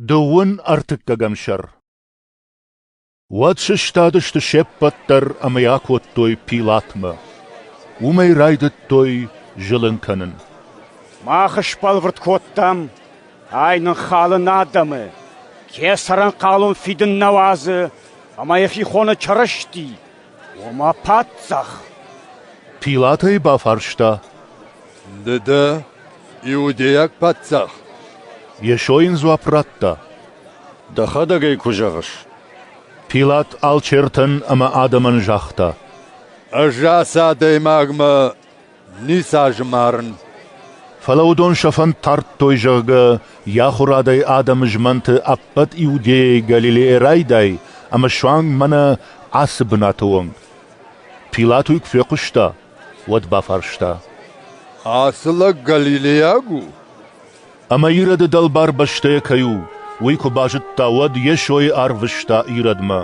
Дыууын ӕртыккӕгӕм сӕр Уӕд сыстадысты се ппӕт дӕр ӕмӕ йӕ акодтой Пилатмӕ. Уымӕй райдыдтой зылын кӕнын. Мах сбӕлвырд кодтам, ай ныххалын адӕмы, кӕцыран хъалон фидын нӕ уадзы ӕмӕ йӕхи хоны Чырысти, Ома, паддзах? Пилат ӕй бафарста. Ды дӕ иудейаг паддзах? Йесо йын дзуапп радта. Дӕхӕдӕг ӕй куы зӕгъыс. Пилат алчертӕн ӕмӕ адӕмӕн загъта. Ӕз ацы адӕймагмӕ Ницы азы марын. Фӕлӕ уыдон сӕ фӕнд тардтой, зӕгъгӕ, йӕ ахуырадӕй адӕмы змӕнты ӕппӕт Иудейӕйы Галилейӕ райдай ӕмӕ суанг мӕнӕ ацы бынаты уӕнг. Пилат уый куы фехъуыста, уӕд бафарста. Ацы лӕг галилейаг у? Ӕмӕ Ироды дӕлбар бӕстӕйӕ кӕй у, уый куы базыдта, уӕд Йесойы арвыста Иродмӕ.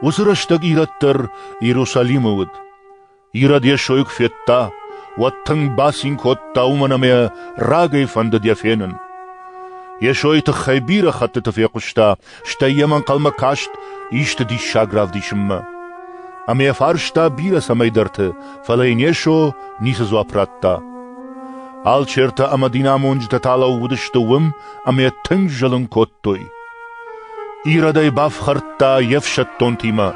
Уыцы рӕстӕг Ирод дӕр Иерусалимы уыд. Ирод йӕ сойг федта, уӕд тынг бацин кодта, уымӕн ӕмӕ рагӕй фӕндыд йӕ фенын. Йесойы тыххӕй бирӕ хӕттыты фехъуыста, стӕй йӕм ӕнхъӕлмӕ каст исты диссаг равдисынмӕ. Ӕмӕ йӕ фарста бирӕ цӕмӕйдӕрты, фӕлӕ йын Йесо ницы дзуапп радта. Алчертӕ ӕмӕ динамонджытӕ та лӕууыдысты уым ӕмӕ тынг зылын кодтой. Иродӕй бафхӕрдта йе фсӕддонтимӕ,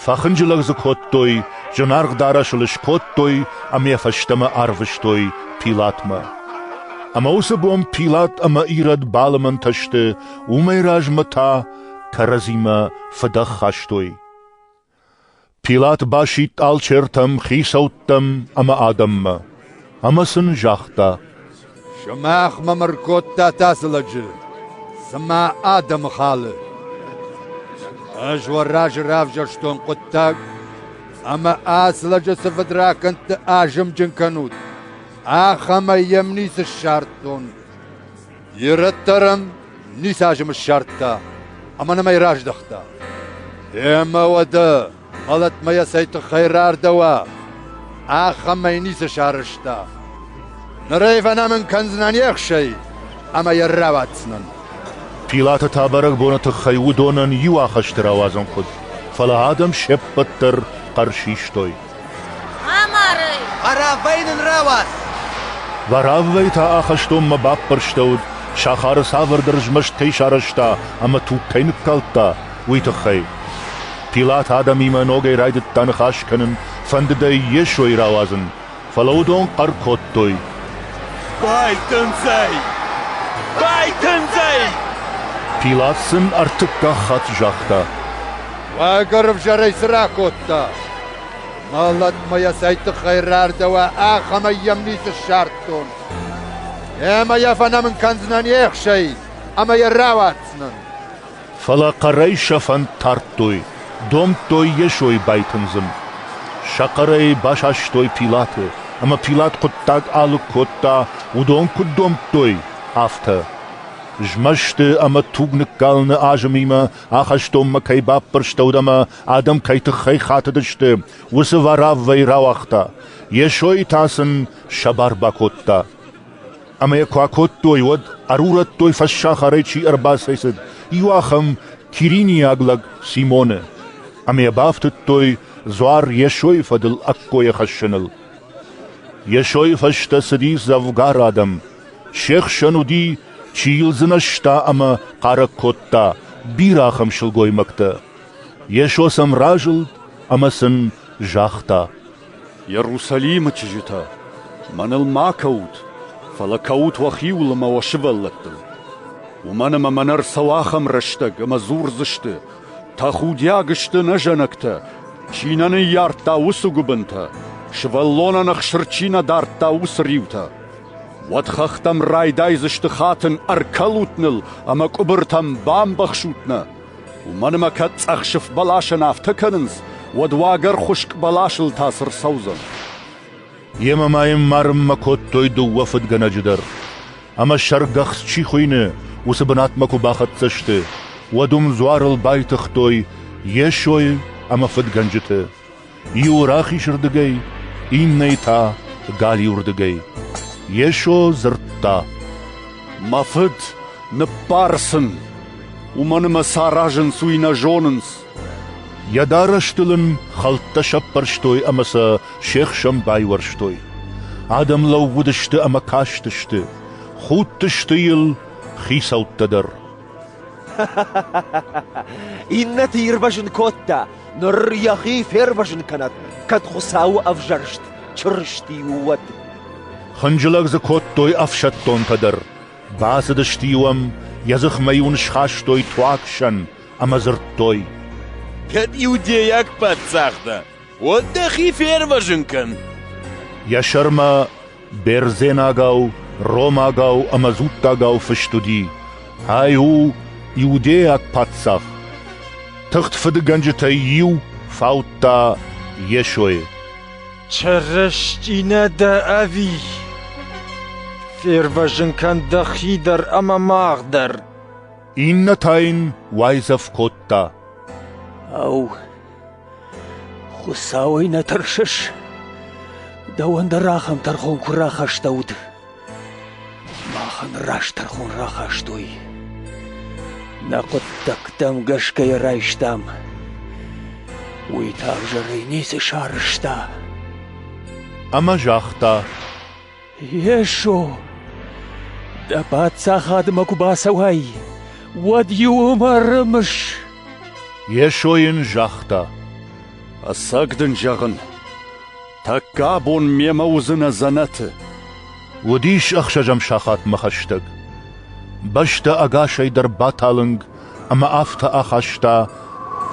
фӕхынджылӕг дзы кодтой, зынаргъ дарӕсыл скодтой ӕмӕ фӕстӕмӕ арвыстой Пилатмӕ. Ӕмӕ уыцы бон Пилат ӕмӕ Ирод балымӕнтӕ сты, уымӕй размӕ та кӕрӕдзимӕ фыдӕх хастой. Пилат басидт алчертӕм, хицӕуттӕм ӕмӕ адӕммӕ ӕмӕ сын загъта: «Сымах мӕм ӕркодтат ацы лӕджы, цыма адӕмы халы. Ӕз уӕ разы равзӕрстон хъуыддаг, ӕмӕ ацы лӕджы цы фыдракӕндты азымджын кӕнут, ахӕмӕй йӕм ницы ссардтон. Ирӕттӕ ран ницы азым ссардта ӕмӕ нӕм ӕй раздӕхта. Эмӕ уӕдӕ мӕлӕтмӕ йӕ цӕй тыххӕй рардӕуа, ахӕмӕй ницы сарӕзта. Ныр ӕй фӕнӕмын кӕндзынӕн ехсӕй ӕмӕ йӕ рауадздзынӕн. Пилаты та бӕрӕгбоны тыххӕй уыдонӕн иу ахӕсты рауадзын хъуыд, фӕлӕ адӕм се ппӕт дӕр хъӕр систой. Амарай! Ӕрӕвӕй нын рауадз! Вӕрӕввӕй та ахӕстонмӕ баппӕрстӕуыд, сахары цавӕрдӕр змӕст кӕй сарӕзта ӕмӕ туг кӕй ныккалдта, уый тыххӕй. Пилат адӕмимӕ ногӕй райдыдта ныхас кӕнын, фӕндыд ӕй Йесойы рауадзын, фӕлӕ уыдон хъӕр кодтой. Байтындзӕй! Байтындзӕй! Пилат сын ӕртыккаг хатт загъта. Уӕ гуырвзӕрӕй цы ракодта? Мӕлӕтмӕ йӕ цӕй тыххӕй рардӕуа, ахӕмӕй йӕм ницы ссардтон. Йемӕ йӕ фӕнӕмын кӕндзынӕн йе хсӕй ӕмӕ йӕ рауадздзынӕн. Фӕлӕ хъӕрӕй сӕ фӕнд тардтой, домдтой Йесойы байтындзын. Сӕ хъӕрӕй басастой Пилаты, ӕмӕ Пилат хъуыддаг алыг кодта, уыдон куыд домдтой, афтӕ. Змӕсты ӕмӕ туг ныккалыны азымимӕ ахӕстонмӕ кӕй баппӕрстӕуыд ӕмӕ адӕм кӕй тыххӕй хатыдысты, уыцы вӕрӕввӕй рауагъта, Йесойы та сын сӕ бар бакодта. Ӕмӕ йӕ куы акодтой, уӕд ӕрурӕдтой фӕссахарӕй чи ӕрбацӕйцыд, иу ахӕм киринийаг лӕг Симоны, ӕмӕ йӕ бафтыдтой дзуар Йесойы фӕдыл ӕккойӕ хӕссыныл. Йесойы фӕстӕ цыди дзӕвгар адӕм. Се хсӕн уыди, чи йыл дзынӕзта ӕмӕ хъарӕг кодта, бирӕ ахӕм сылгоймӕгтӕ. Йесо сӕм разылд ӕмӕ сын загъта: «Иерусалимы чызджытӕ, мӕныл ма кӕут, фӕлӕ кӕут уӕхиуыл ӕмӕ уӕ сывӕллӕттыл. Уымӕн ӕмӕ мӕнӕ ӕрцӕуы ахӕм рӕстӕг, ӕмӕ дзурдзысты: «Тӕхудиаг сты нӕ зӕнӕгтӕ, чи нӕ ныййардта уыцы гуыбынтӕ, сывӕллонӕн ӕхсыр чи нӕ дардта уыцы риутӕ». Уӕд хӕхтӕм райдайдзысты хатын: «Ӕркӕлут ныл ӕмӕ къуыбыртӕм бамбӕхсут нӕ!» Уымӕн ӕмӕ кӕд цъӕхсыф бӕласӕн афтӕ кӕнынц, уӕд уагӕр хуыскъ бӕласыл та цы рцӕудзӕн? Йемӕ ма йын марынмӕ кодтой дыууӕ фыдгӕнӕджы дӕр. Ӕмӕ сӕргӕхц чи хуыйны, уыцы бынатмӕ куы бахӕццӕ сты, уӕд уым дзуарыл байтыгътой Йесойы ӕмӕ фыдгӕнджыты. Иу рахизырдыгӕй, иннӕйы та — галиуырдыгӕй. Йесо дзырдта: «Мӕ Фыд, ныббар сын! Уымӕн ӕмӕ сӕ аразынц, уый нӕ зонынц!» Йӕ дарӕстыл ын хӕлттӕ сӕппӕрстой ӕмӕ сӕ се хсӕн байуӕрстой. Адӕм лӕууыдысты ӕмӕ кастысты, худтысты йыл хицӕуттӕ дӕр. Иннӕты ирвӕзын кодта, ныр йӕхи фервӕзын кӕнӕд, кӕд Хуыцауы ӕвзӕрст Чырысти у, уӕд. Хынджылӕг дзы кодтой ӕфсӕддонтӕ дӕр. Бацыдысты-иу ӕм, йӕ дзыхмӕ-иу ын схастой туагсӕн ӕмӕ дзырдтой: «Кӕд иудейаг паддзах дӕ, Уӕд дӕхи фервӕзын кӕн! Йӕ сӕрмӕ бердзенагау, ромагау ӕмӕ дзуттагау фыст уыди: «Ай у иудейаг паддзах!» Тыхт фыдыгӕнджытӕй иу фаудта Йесойы. «Чырысти нӕ дӕ ӕви? Фервӕзын кӕн дӕхи дӕр ӕмӕ мах дӕр!» Иннӕ та йын уайдзӕф кодта: «Ау, Хуыцауӕй нӕ тӕрсыс? Дӕуӕн дӕр ахӕм тӕрхон куы рахастӕуыд. Махӕн раст тӕрхон рахастой. Нӕ хъуыддӕгтӕм гӕсгӕ йӕ райстам. Уый та ӕвзӕрӕй ницы сарызта. Ӕмӕ загъта: Йесо, дӕ паддзахадмӕ куы бацӕуай, уӕд-иу ӕм ӕрымыс. Йесо йын загъта: Ӕцӕг дын зӕгъын, тӕккӕ абон мемӕ уыдзынӕ дзӕнӕты. Уыдис ӕхсӕзӕм сахатмӕ хӕстӕг. Бӕстӕ ӕгасӕй дӕр баталынг, ӕмӕ афтӕ ахаста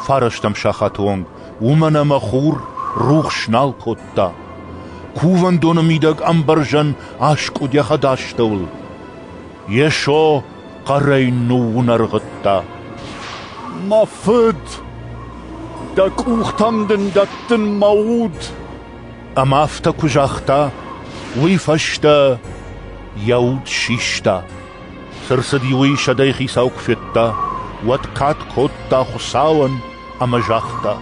фарӕстӕм сахаты онг, уымӕн ӕмӕ хур рухс нал кодта. кувӕндоны мидӕг ӕмбӕрзӕн аскъуыдӕхӕд астӕуыл. Йесо хъӕрӕй ныууынӕргъыдта. «Мӕ Фыд, дӕ къухтӕм дын дӕттын мӕ уд!» Ӕмӕ афтӕ куы загъта, уый фӕстӕ йӕ уд систа. Цы рцыд-иу ӕй сӕдӕйы хицау куы федта, уӕд кад кодта Хуыцауӕн ӕмӕ загъта: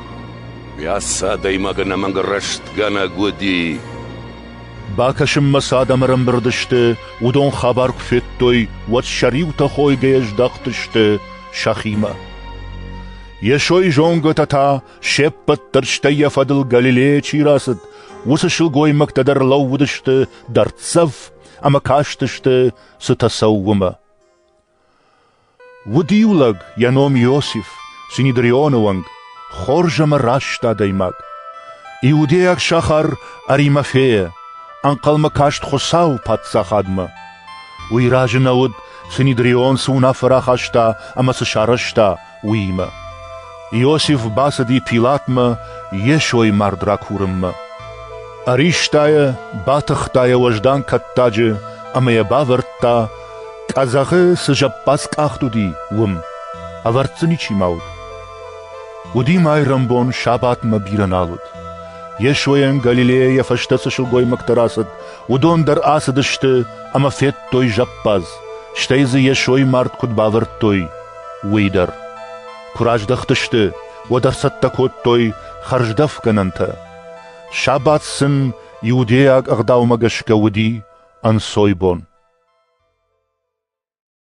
«Уӕ ацы адӕймагӕн амӕнг рӕстгӕнӕг уыди». Бакӕсынмӕ цы адӕм ӕрӕмбырд сты, уыдон хабар куы федтой, уӕд сӕ риутӕ хойгӕйӕ здӕхтысты сӕхимӕ. Йесойы зонгӕтӕ та, се ппӕт дӕр стӕй йӕ фӕдыл Галилейӕ чи рацыд, уыцы сылгоймӕгтӕ дӕр лӕууыдысты дӕрддзӕф ӕмӕ кастысты цытӕ цӕуы уымӕ. Уыд иу лӕг, йӕ ном Иосиф, Синидрионы уӕнг, хорз ӕмӕ раст адӕймаг. Иудейаг сахар Аримафея ӕнхъӕлмӕ каст Хуыцауы паддзахадмӕ. Уый разы нӕ уыд, Синедрион цы уынаффӕ рахаста ӕмӕ цы сарӕзта, уыимӕ. Иосиф бацыди Пилатмӕ Йесойы мард ракурынмӕ. Ӕриста йӕ, батыхта йӕ уӕздан кӕттаджы ӕмӕ йӕ бавӕрдта, къӕдзӕхы цы зӕппадзкъахт уыди, уым. Ӕвӕрд дзы ничи ма уыд. Уыди майрӕмбон сабатмӕ бирӕ нал уыд. Йесойӕн Галилейӕ йӕ фӕстӕ цы сылгоймӕгтӕ рацыд, уыдон дӕр ацыдысты ӕмӕ федтой зӕппадз, стӕй дзы Йесойы мард куыд бавӕрдтой, уый дӕр. Куы раздӕхтысты, уӕд ӕрцӕттӕ кодтой хӕрздӕфгӕнӕнтӕ. Сабат сын иудейаг ӕгъдаумӕ гӕсгӕ уыди ӕнцойбон.